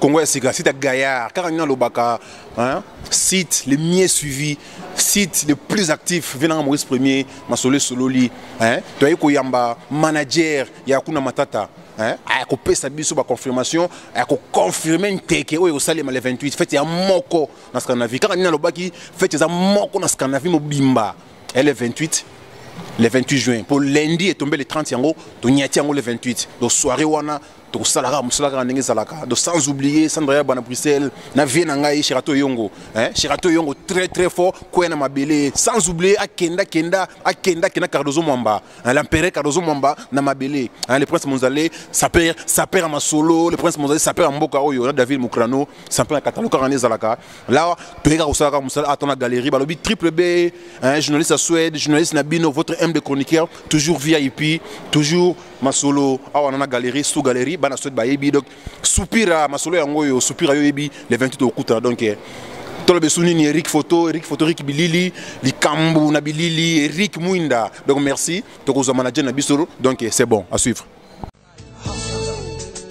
Congo ya sika site ya Gaillard kaka nina lobaka hein site le mieux suivi site le plus actif venanga Maurice Premier masolo sololi hein to yeko yamba manager ya kuna matata hein a ko pesa biso ba confirmation a ko confirmer nteke oyo sale le 28 fete ya moko na Scandinavie kaka nina lobaki fete za moko na Scandinavie mobimba le 28 le 28 juin pour lundi est tombé le 30 yango to nyati yango le 28 donc soirée wana tokosala kaka mosala kaka ndenge ezalaka donc sans oublier sandra yaba na bruxelles na vie na ngai sherato yongo hein? sherato yongo très très fort kwea na mabele sans oublier akenda kenda akenda kenda cardozo mwamba hein? l'empereur cardozo mwamba na mabele hein? le prince monzale saper saper ya masolo le prince monzale saper ya mboka oyo na david mokrano saper ya katalo kaka nde ezalaka lawa toyei kaka kosala kaka mosala ata na galerie balobi triple b hein? journaliste ya suède journaliste na bino votre m de chroniqueur toujours vip toujours masolo awa na na galerie sous galerie bana soit bayebi donc soupira masolo yango oyo soupira yo yebi le 28 okutana donc eh, toloba esu nini eric photo eric photo eric bilili likambo na bilili eric mwinda donc merci tokozwa manager na biso donc eh, c'est bon à suivre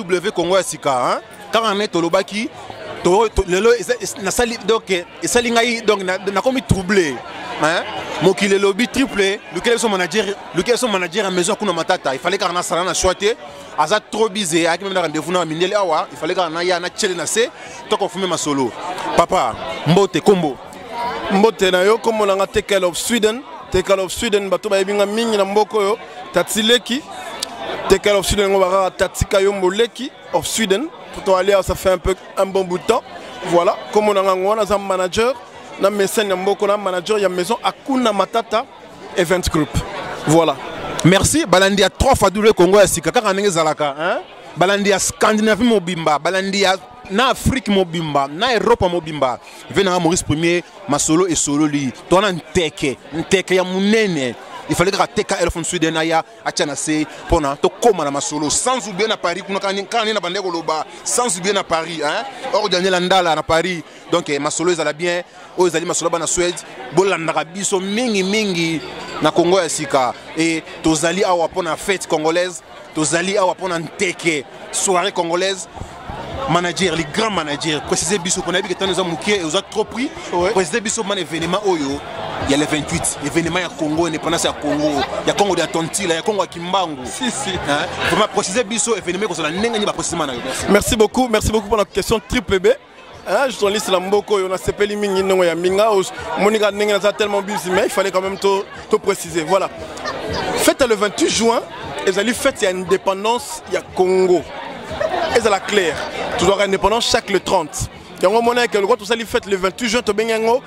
W Congo ya sika hein kaka ne tolobaki to, to lelo nasali donc esali ngai donc nakomi troublé hein mokili elobi triple lukela biso manager lukela biso manager ya maison kuna matata ifale kaka nasala na shwa te aza trop bise ayaki meme na rendez-vous na mindele awa ifale kaka naya na tiele na se tokofumi masolo papa mbote kombo mbote na yo nkombo na nga tekel of sweden tekel of sweden bato bayebi nga mingi na mboka oyo tati leki tekel of sweden yango bakaka tatika yo moleki of sweden pourtant alia ça fait un peu un bon bout de temps voilà nkombo na nga yango wana aza manager na mesene ya mboko na manager ya maison akuna matata event group voilà merci balandi ya 3 fadule congo ya sika kaka ndenge ezalaka hein? balandi ya scandinavie mobimba balandi ya na afrique mobimba na eropa mobimba ve nanga maurice premier masolo esololi to wana nteke nteke ya monene il fallait kaka teka elefone sweden aya atya na se mpona tokóma na masolo sans oublie na paris kuna kaka nde na bandai koloba sans oublie na paris hein? or daniela ndala na paris donc eh, masolo ezala bien oyo ezali masolo bana swede bolandaka biso mingi mingi na congo ya sika e tozali awa mpo na fete congolaise tozali awa pona nteke soirée congolaise manager les grands managers précisez biso pona yebi ketano eza mukie et oza trop pris précisez biso man événement oyo ya le 28 événement ya Congo indépendance ya Congo ya Congo de Tontila ya Congo ya Kimbangu si si hein vraiment précisez biso événement kozala ndenge ni ba précisément na yo merci beaucoup merci beaucoup pour la question triple B Hein, journaliste la mboko yo na sepeli mingi ndongo ya mbinga monika ndenge naza tellement busy mais il fallait quand même to to préciser voilà fête le 28 juin ezali fête ya indépendance ya Congo ezala clair tozwaka indépendance chaque le 30 yango omona eke lokola tosali fête le 28 juin tobengi yango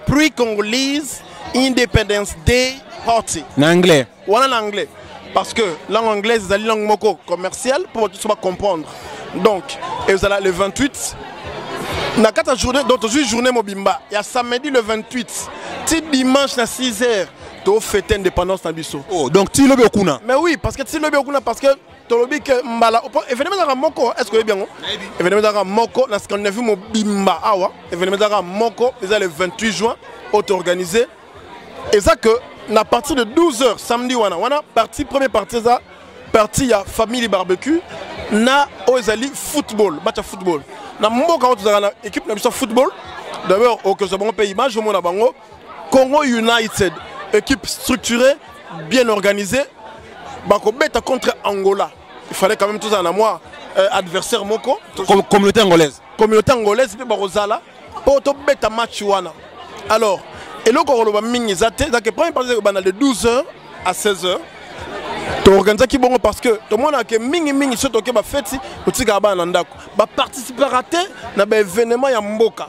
pre-congolese independence day party na anglais wana na anglais parce que langue anglaise ezali langue moko commerciale mpo bato nyonso bacomprendre donc ezala le 28 na kati ya journée donc tozwi journée mobimba ya samedi le 28 ti dimanche na 6 heures tofete indépendance na biso oh, donc ti lobi okuna mais oui parce que ti lobi okuna parce que tolobi ke mbala événement ezalaka moko est ce que oyebi yango événement ezalaka moko na scandinavie mobimba awa événement ezalaka moko eza le 28 juin oto organisé eza que na partir de 12 heures samedi wana wana partie première partie eza partie ya famille barbecue na oyo ezali football match ya football na mboka oyo tozalaka na équipe na biso ya football d'abord okozwa bango mpe image omona bango congo united équipe structurée bien organisée bakobeta contre angola il fallait quand même tozala na mwa euh, adversaire moko Com communauté angolaise communauté angolaise mpe bakozala mpo tobeta match wana alors eloko koloba mingi eza te ezake premier partie ekobanda de 12 heures à 16 heures toorganisaki bongo parce que tomonaka mingimingi soki toke bafeti totikaka bana na ndako baparticipaka te na baévénement ya mboka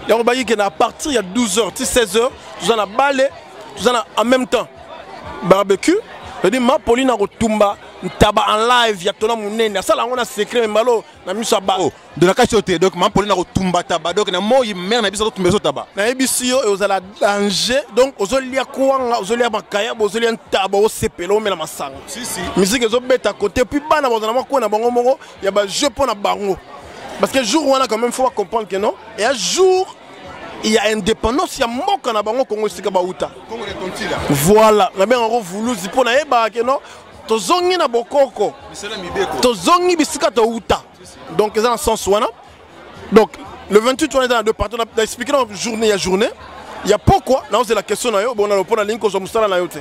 yango bayaki ke na partir ya 12 heures ti 16 heures toza na bale toza na en même temps barbecue edi mapolina kotumba ntaba en live ya tona monene asala yango na secret me mbalo na miso ya bato oh, donakasi yo te donc mampoli na kotumba taba donc na moi mare na biso totumba biso taba nayebisi yo ozala danger donc ozolia kwanga ozolia makayabo ozolia ntaba osepela omela masanga miziki ezobeta kote puis bana bazala makuwa na bango moko ya bajeu mpo na bango parce que jour wana quand même faut comprendre que non et un jour il y a indépendance ya mboka na bango kongo esika bauta voilà na benga yango vuluzi mpo nayebaka ke non tozongi na bokoko tozongi bisika towuta donc eza na sens wana donc le 28 wana eza na deux parti na expliqué na journée ya journée ya pokwa naozela question na yo bona lopo nalingi kozwa mosala na yo te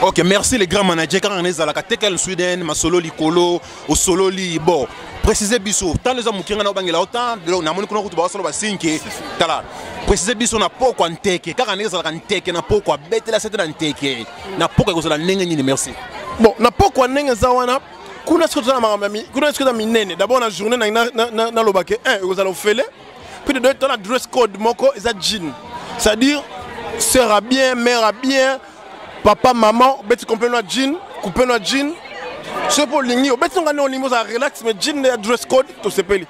ok merci les grands managers kaka na ezalaka te kel sweden masolo likolo osololi bon précise biso ntango eza moke ngai na obangela otan namoni kuna kutu bakosala basinke tala précise biso na pokwa nteke kaka ndenge ezalaka nteke na pokwa betela sete na nteke na poko ekozala ndenge nini merci bon na poko ya ndenge eza wana kuna soki tozala makambo kuna soki eza minene d'abord na journée naloba ke un ekozala ofele puis de deux temps na dress code moko eza jean c'est à dire sœur a bien mère a bien papa maman obeti complètement jean coupe na jean soki mpo olingi obeti nonga nde olingi ozala relax mais jean nde ya dress code tosepeli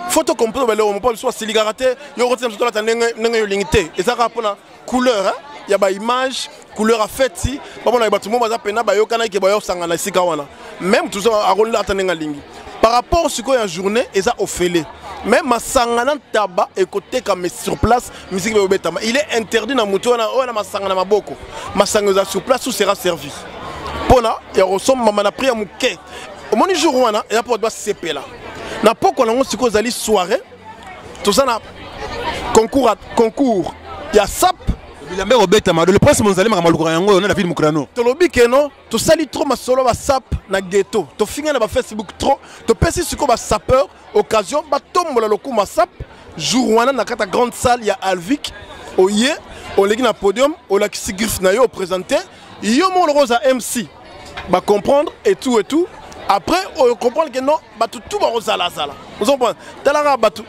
fo tocomprendre baleo mopo biso basilikaka te yo okoti na biso tolata ndenge olingi te ezaka mpona couleur hein? ya ba image couleur ya feti bamonaka bato moko baza mpena bayokanaki bayosangana esika wana meme tozo akolela ata ndenge alingi par rapport sikoyo ya journée eza ofele mais masanga na ntaba ekotekama sur place miziki bayobetama il est interdit na moto wana oyo na masanga na maboko masanga eza sur place ou sera servi mpona ya kosombama na prix ya moke omoni jour wana eza mpo bato basepela na pokwa nango sikoyo ezali soirée toza na concours concours ya sap bilambe kobetama le prince monzali makambo alukaka yango oyo na david mokrano tolobi keno tosali trop masolo basap na ghetto tofinga na bafacebook trop topesi sikoyo basapeur occasion batombola lokuma sap jour wana na kati ya grande salle ya alvic oye oleki na podium olakisi griffe na yo opresente yo moko lokoza mc ba comprendre et tout et tout après on comprend que non bato tout bakozala zala ozo comprendre talaka bato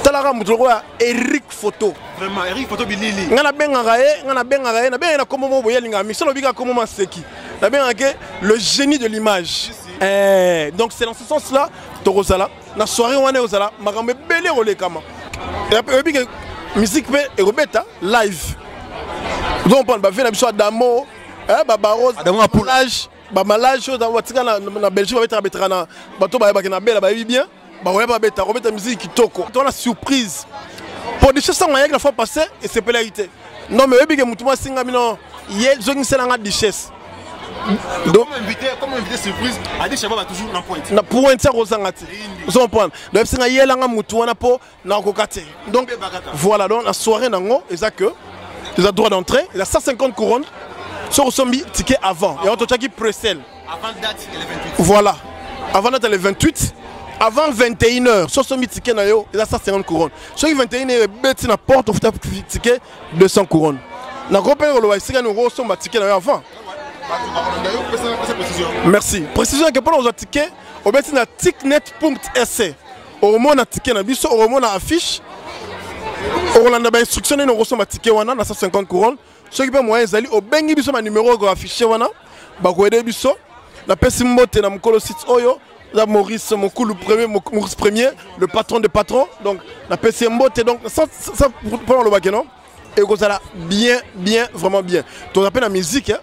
talaka moto lokola eric photo ngai nabengaka ye ngai nabengaka ye nabengaka ye na kombo moko boye alingaka mixo lobika kombo maseki nabengaka ke le génie de l'image eh, donc c'est dans ce sens là tokozala na soirée wana ekozala makambo ebele ekolekama oyebi ke musique mpe ekobeta live ozo comprendre bavie na biso adamo eh ba baros ah, ba malage ba malage dans watika na na Belgique ba betaka betaka na bato ba ba na bela ba bien ba ouais ba beta ko beta musique kitoko to la surprise pour des choses sans rien la fois passée et c'est pas l'arité non mais oyebi ke mutu mwa singa bino ye zongisela nga duchesse donc invité comme invité surprise adi shababa toujours na pointe na pointe ça kozanga ti ozo comprendre donc singa yela nga mutu wana po na koka te donc voilà donc la soirée nango eza que eza droit d'entrée eza 150 couronnes soki osombi ticket avant yango totyaki presel voilà avant date le 28 avant 21 heures soki osombi ticket na yo eza 150 couronnes soki 21 heures ebeti na porte ofuta ticket 200 couronnes nakoki mpe koloba esika nini okosomba ticket na yo avant merci précision yake mpona kozwa ticket obeti na ticknet sc okomona tike na biso okomona affiche okolanda bainstruction nini okosomba tike wana na 150 couronne soki mpe moyen ezali obengi biso banimero oko affiche wana bakoyede biso napesi mbote na mokolo site oyo la Maurice Mokulu premier Maurice premier le patron des patrons donc napesi ye mbote donc sans, sans, sans, sans, sans, sans, sans, sans, sans, ekozala bien bien vraiment bien toza mpe na musique hein.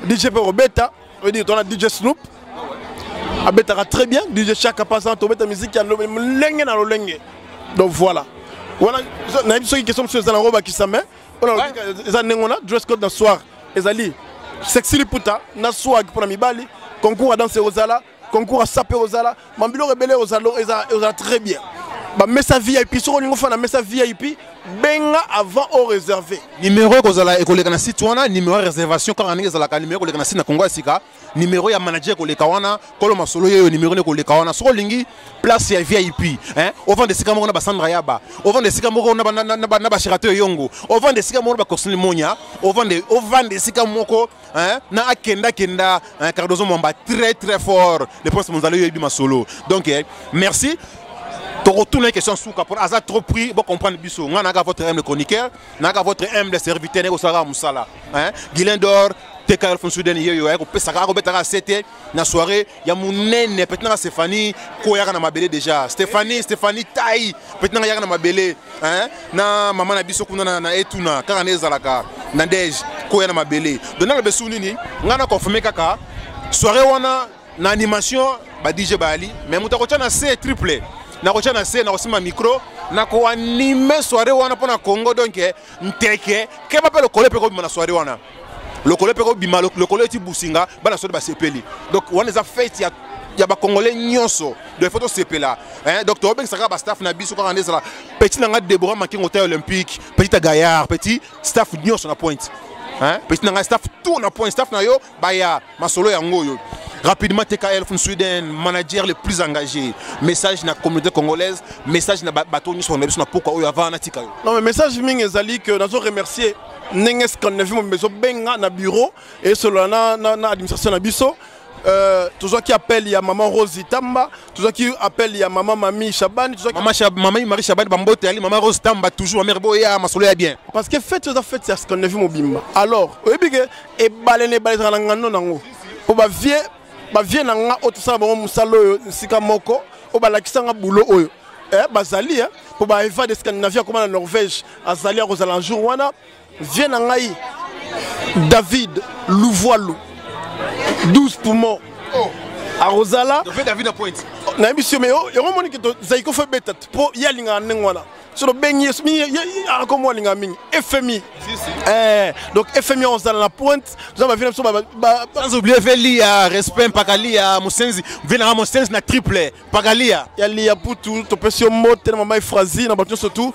dj mpe kobeta oyedi tona dj snoop abetaka très bien dj chaka pasant tobeta musique ya lolenge na lolenge donc voilà wana nayebi soki question mosusu eza nango bakisa mai wana eza ndenge wana dress code na soir ezali sexy liputa na swag mpo na mibali concours ya danse ekozala concours ya sape kozala mambiloko ebele ozala très bien bamesa vip soki olingi ofana mesa vip benga avant o réserve numéro ekozala ekoleka na site wana numéro ya réservation kaka ndenge ezalaka numéro ekoleka na site na kongo ya sika numéro ya manager ekoleka wana kolo masolo yeyo numéro nde ekoleka wana soki olingi place ya vip hein? ovanda esika moko na basandra yaba ovanda esika moko na basherato eyongo ovanda esika moko na bacorsine monia ovanda esika moko hein, na akenda kenda hein, Cardozo Mwamba très très fort le prince Monzalo yebi masolo donc eh, merci tokotuna ye question suka mpo aza trop pris bocomprendre biso ngai nayaka votre humble chroniqueur nayaka votre humble serviteur naye kosalaka mosala hein, guilain d'or teka elfonsuden yeyo aye kopesaka akobetaka se te na soirée ya munene peut-être na Stéphanie ko yaka na mabele déjà Stéphanie Stéphanie taille peut-être na yaka na mabele hein na maman na biso kuna na, na etuna kaka na ezalaka na ndege ko ya na mabele donc na besu nini nga na confirmer kaka soirée wana na animation ba DJ Bali mais muta ko na C triple na ko na C na ko sima micro na ko anime soirée wana pona Congo donc nteke keba pe lokole pe ko na soirée wana lokolo mpe kobima lokolo eti businga bana soki basepeli donc wana eza fete ya ya bakongole nyonso donc ifo tosepela donc tobengisa kaka bastaff na biso kaka nde ezala petit na ngai debora makengo ta olympique petit ya gaillard petit staff nyonso na pointe petit na ngai staff tour na pointe staff na yo baya masolo yango oyo Rapidement, TKL from Sweden, manager le plus engagé. Message na communauté congolaise, message na bateau nous on a besoin pourquoi au avant na Non mais message ming ezali que nous remercier ndenge 59 mobimba ezobenga na bureau esolola na, na, na administration na biso Euh, tozwaki appel ya maman rose tamba tozwaki appel ya maman mami shabani mamamami marie shabani bambote yali maman rose tamba toujours mamere boya masolo ya bien parce que fete oza fete ya scandinavie mobimba alors oyebi ke ebale na ebale ezalaka na ngando nango mpo bavie bavie na nga oyo tosala bango mosala oyo esika moko oyo balakisa nga bulo oyo eh, bazali eh, mpo baeva de scandinavie akoma na norvège azali akozala jour wana vie na ngai david luvualu 12 poumon oh. akozala nayebi sio me yango omoni ke zaiko fo ebeta mpo ye alingaka ndenge wana soki obengi yesu mingi ako mwa alinga mingi fmi eh, donc fmi ozala na pointe toza bavie na biso sans oublier ve liya respect mpaka liya mosenzi vie nanga mosenzi na triple mpaka liya ya liya putu topesi yo mbote na mama efrazi na bato nyonso tu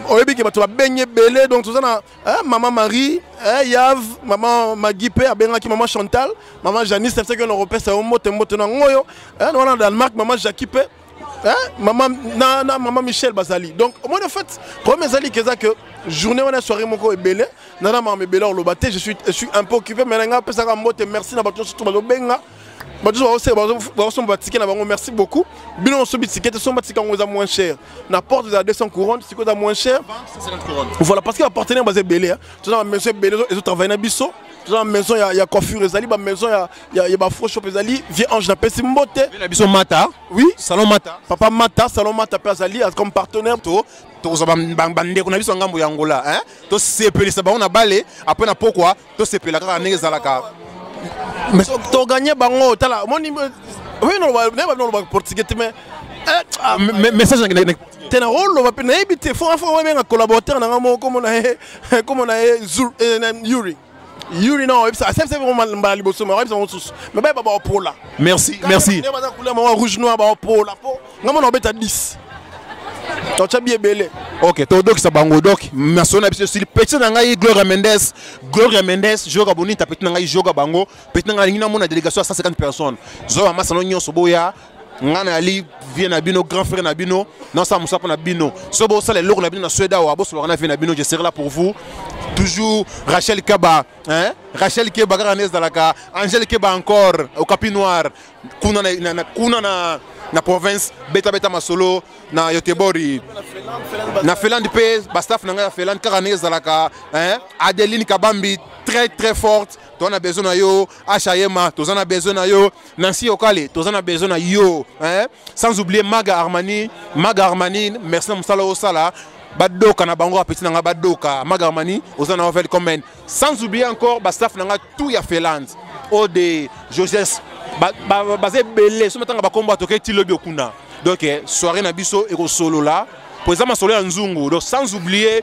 oyebi ke bato babengi ebele donc toza na eh, mama marie eh, yav mama magi mpe abengaki mama chantal mama janice na bisaki yo na kopesa yo mbote mbote na yango oyo wana na danemark mama jacki mpe Hein? Maman, na, na, maman Michel Bazali. Donc, moi, en fait, problème Zali, c'est ça que journée, on a soirée, mon corps est belé. Nana, maman, est belé, on l'a battu. Je suis, je suis un peu occupé, mais là, on ça comme mot, merci, n'a pas tout, surtout, benga. bato baosomba batike na bango merci beaucoup bino osobi tike te somba tika yango eza moins cher na porte eza 200 couronne sikoyo eza moins cher voilà parce que bapartenaire baza ebele toza na bamaison ebele ezotravaille na biso toza na maison ya coiffure ezali bamaison ya ya ya bafro shop ezali vieux ange napesi mbote na biso mata oui salon mata papa mata salon mata mpe azali comme partenaire to tokozwa bandeko na biso ya ngambo ya angola hein? tosepelisa bango na bale apres na pokwa tosepela kaka ndenge ezalaka toganye bango tala omoni oui naloba naye babi nalobaka portugais te mais eh, ah, message te na oloba mpe nayebi te fo afa obenga collaborateur na ngai moko komona ye komona ye yuri yuri non oyebisa asepesa mbala liboso me oyebisa yango susu me bayeba baopola merci merci baza couleur moko rouge noir baopola mpo nga mona obeta 10 totya bi ebele ok todokisa bango dok masolo na biso esili petit na ngai gloria mendes gloria mendes joga bonita petit na ngai joga bango petit na ngai alingi namona délégation ya 150 personnes zoba masano nyonso boya nga nayali vie na bino grand frère na bino nasala mosala mpo na bino so bosala eloko na bino na swede awa bosolaka na vie na bino je serai là pour vous toujours rachel keba hein? rachel keba kaka nde ezalaka angel keba encore okapi noir kuna na, na, na, kuna na, na province betabeta masolo na yotebori na finlande mpe bastaff na ngai ya finlande kaka nde ezalaka hein? adeline kabambi très très forte toza na besoin na yo ashayema toza na besoin na yo Nancy Okale, toza na besoin na yo, hein? Sans oublier Maga Armani, Maga Armani, merci na musala osala. Badoka na bango apeti na nga badoka, Maga Armani, oza na ovel comment. Sans oublier encore ba staff na nga tout ya Felance. Ode, Joseph, ba ba ba belé, so matanga ba kombo atoke ti lobi okuna. Donc eh, soirée na biso eko solo là. Pour ça ma solo ya nzungu. Donc sans oublier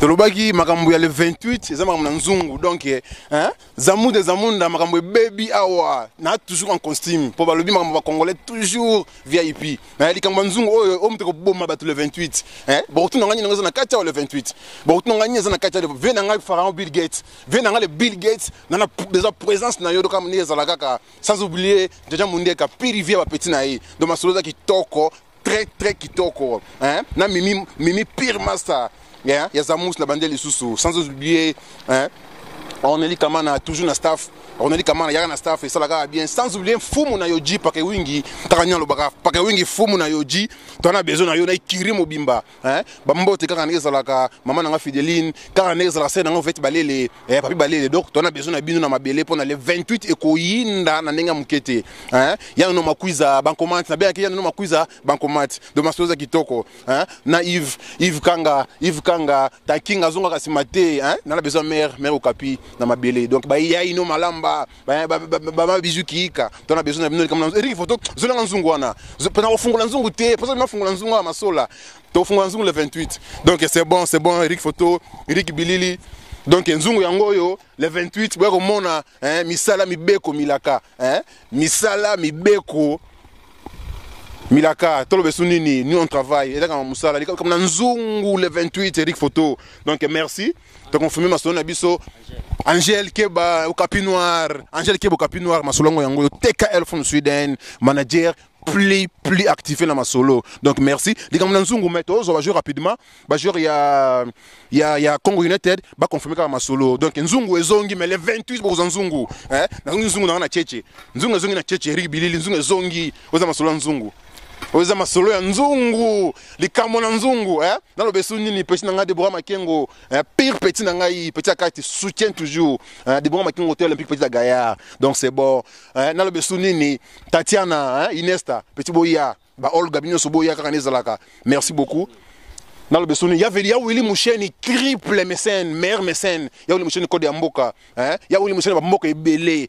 tolobaki makambo ya le 28 eza makambo na nzungu donc eh, hein? zamu de zamunda makambo ebebi awa na toujours en costume mpo balobi makambo bacongolais toujours vip eh, likambo ya nzungu oyo oyo moto ekoboma bato le 28 eh? bokotuna ngai nini eza na kati awa le 28 bokotuna ngai nini eza na kati vie na ngai pharaon bill gates vie na ngai le bill gates nana eza présence na yo doka ndenge ezala kaka sans oublier jaja mundieka pirivi ya bapeti na ye donc masolo eza kitoko très très kitoko hein? na mimi, mimi pire master yeah? ya zamus na bande lisusu sans oublier hein? roneli kamana toujours na staff roneli kamana yaka na staff esala kaka bien sans oublier mfumu na yoji pake wingi kaka nini alobaka pake wingi mfumu na yoji twana besoin na yo na ekiri mobimba Hein? Ba mbote kaka ndenge ezalaka mama na nga Fideline, kaka ndenge ezalaka sena nga vete balele, eh papi balele. Donc tona besoin na bino na mabele pona le 28 ekoyinda na ndenge ya moke te. Hein? Ya no makuiza bankomati, na bengaki ya no makuiza bankomati. Do masoza kitoko, hein? Na Yves, Yves Kanga, Yves Kanga, ta kinga zonga kasi mate, hein? Na la besoin mère, mère Okapi na mabele. Donc ba yai no malamba. baba bizu kiika to na besoin na bino likambo eriki foto zolanga nzungu wana pona kofungola nzungu te mposa bino afungola nzungu ya masola tofungola nzungu le 28 donc c'est bon c'est bon eriki foto eriki bilili donc nzungu yango oyo le 28 boya komona eh, misala mibeko milaka eh, misala mibeko milaka toloba esu nini ni on travail ezaka na mosala likambo na nzungu le 28 eric photo donc merci To confirmer masolo na biso Angel Keba Okapi Noir, Angel Keba Okapi Noir masolo yango yango TKL from Sweden, manager plus plus activé na masolo. Donc merci. Likambo na Nzungu mais tozo ba jouer rapidement, ba jouer ya ya ya Congo United ba confirmer kaka masolo. Donc Nzungu ezongi mais le 28 bokoza Nzungu. Eh, na Nzungu na na Cheche. Nzungu ezongi na Cheche, Eric Bilili Nzungu ezongi. Oza masolo ya Nzungu. Oza masolo ya Nzungu. likambo na nzungu eh? naloba esu nini petit na ngai debora makengo eh? pire petit na ngai petit ya kati soutien toujours eh? debora makengo te olympique petit ya gaillard donc c'est bon eh? naloba esu nini tatiana eh? inesta petit boya ba olga bino nyonso boya kaka nezalaka merci beaucoup naloba esu nini ya veli ya wili musheni triple mécène meilleur mécène ya wili musheni kode ya mboka eh? ya wili musheni bamboka ebele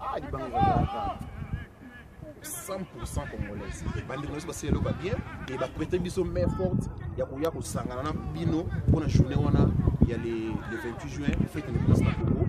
Ah, il bang là. 100% congolaise bandeko nyonso basala eloko ya bien e baprete biso main forte ya koya kosangana na bino mpona journée wana ya le 28 juin fete independance na congo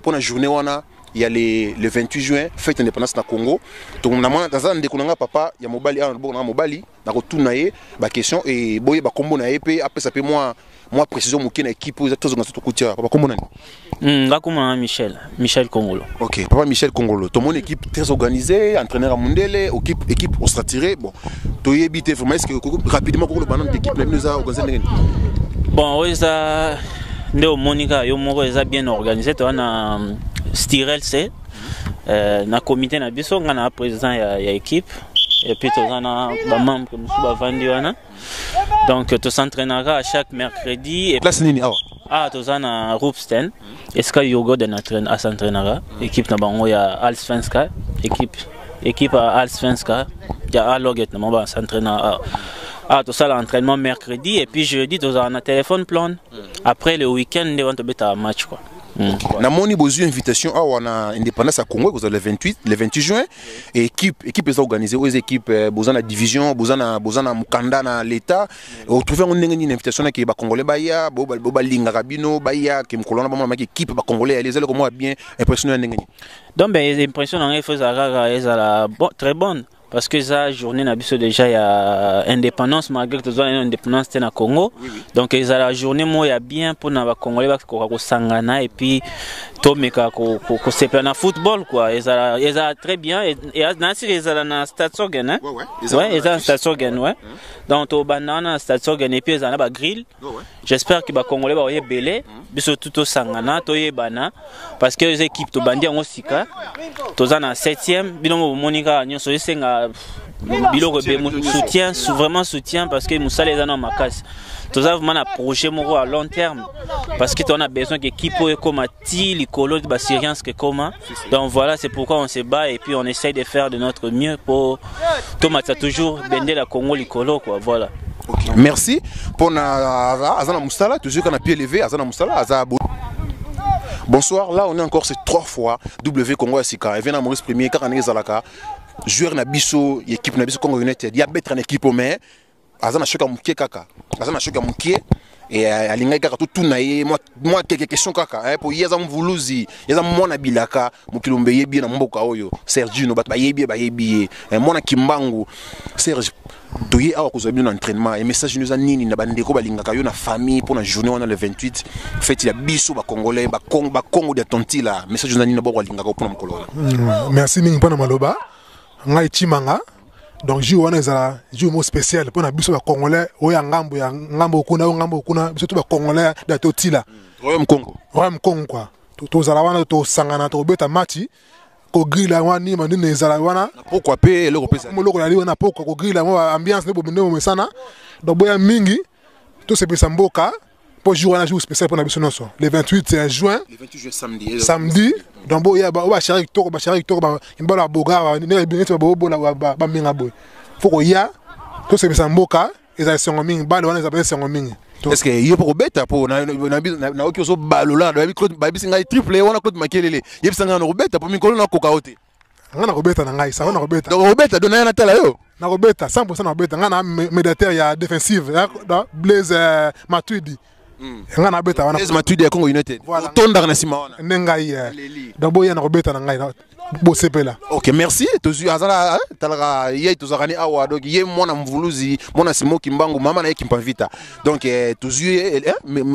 mpo na journée wana ya le, le 28 juin fête indépendance na congo naza na ndeko na ngai papa ya mobali awa na loboko na ngai mobali nakotuna ye baquestion e boyeba nkombo na ye mpe apesa mpe mwa mwa précision moke na équipe oyo tozonga tokuti awa papa nkombo nani hmm, nga nkombo na michel michel congolo ok papa michel congolo tomoni équipe très organisée entraîneur ya mondele équipe équipe ostratiré bon toyebi te vraiment est ce que rapidement kokoloba nano équipe na bino eza organisé ndenge nini bon oyo eza nde omoni kaka yo moko eza bien organise toza na mm, stirel se euh, na comité na biso ngai na président ya, ya équipe epuis toza na bamembre mosusu bavandi wana donc tosentrainaka à chaque mercredi place nini awa ah toza na roopsten esika yogo de na asentrainaka équipe na bango ya alsvenska équipe équipe ya al svenska ya aloget na maba s'entraîne awa awa tosala entraînement mercredi et puis jeudi tozala na téléphone plan hmm. après le week-end nde wana tobetaka match quoi Hmm. namoni bozwi invitation awa na indépendance ya congo ekozala le 28 le 28 juin et équipe équipe eza organise oyo eza équipe euh, boza na division boza na boza na mokanda na l'état otrouve yango ndenge nini invitation nake bacongolais baya bo balingaka bino baya ke mokolo wana bamonamaki équipe bacongolais yali ezali komona bien impression ya ndenge nini donc ben impression na ngai faut ezala kaka ezala bon, très bonne parce que eza journée na biso déjà ya indépendance malgré tozwa naino indépendance te na congo oui, oui. donc ezala journée moko ya bien mpona bacongolais bakoka kosangana et puis tomeka kosepela na football kua ezala, ezala très bien nasili ezala na statsogen hein? ouais, ouais, eza na statsogen ouais. donc tobanda wana na statsogen et puis ezala na bagrille j'espère que ba congolais ba yebele biso tout osangana toyebana parce que les équipes to bandi yango sika toza na 7e bino mo bomoni kaka nyonso esenga biloko be soutien vraiment soutien parce que mosala eza na makasi toza vraiment na projet moko à long terme parce que toza na besoin que équipe oyo ekoma ti likolo ba syriens que comment donc voilà c'est pourquoi on se bat et puis on essaye de faire de notre mieux pour tomatisa toujours bendela congo likolo quoi voilà okay. merci mpona aza na mosala toujours ka na pied levé aza na mosala aza bonsoir là on est encore c'est trois fois w congo ya sika evena maurice premier kaka ndenge ezalaka joueur na biso ya équipe na biso congo united ya betre na équipe mais aza na choc ya moke kaka aza na choc ya moke euh, alingaki kaka totuna ye mwa keke question kaka eh, mpo ye aza mvuluzi ye aza mwana bilaka mokili ombe eyebi ye na mboka oyo sergino bato bayebi ye bayebi ye eh, mwana kimbangu serge toye awa kozwa bino na entraînement ya message no eza nini na bandeko balingaka yo na famille mpo na journée wana le 28 feti ya biso bacongolais bakongo dia tontila message eza nini na boko alingaka mpo na mokolo wana hmm, merci mingi mpo na maloba ngai chimanga donc jour wana ezala jour mo spécial mpo na biso bacongolais oyo ya ngambo ya ngambo kuna oyo ngambo kuna biso to bacongolais da totila royaume congo royaume congo kua tozala wana tosangana tokobeta mati kogrila yango wana nima nini ezala wana pokwa mpe eloko mpesaeloko yali wana pokwa kogrila yango ambiance nde bomende bomesana donc boya mingi tosepelisa mboka mpo jour wana jour spécial mpo na biso nyonso le 28 juin samedi donc boya bashare kitoko bashare kitoko bambalo ya boga neti babobola bambinga boye fo koya tosepesa mboka ezala esengo mingi bale wana ezala esengo mingi est-ce que yo poko beta po na na oki ozo balola na babi Claude babisi ngai triple wana Claude Makelele yebisa ngai na ko beta po mikolo na koka ote nga nakobeta na ngai sango nakobeta donc obeta dona ya natala yo nakobeta 100% nakobeta nga na médiateur ya défensive blaise euh, matuidi hmm. nga nabeta wana blaise matuidi ya congo united otondaka na nsima wana nde ngai euh, donc boya nakobeta na ngai bosepela ok merci tozwi azala eh, talaka ye tozalaka ni awa donc ye mwana mvuluzi mwana simo kimbangu mama na ye kimpavita donc eh, tozwi ye eh,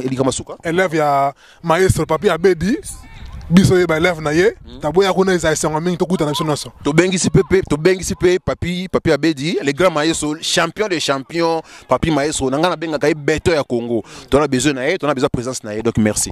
likambo suka élève ya maestro papi abedi biso ye balève na ye hmm. taboya kuna eza esengo mingi tokutana biso nyonso tobengisi mpe tobengisi mpe papi papi abedi le grand maestro champion de champion papi maestro na ngai nabengaka ye beto ya congo tona besoin na ye tona besoin présence na ye donc merci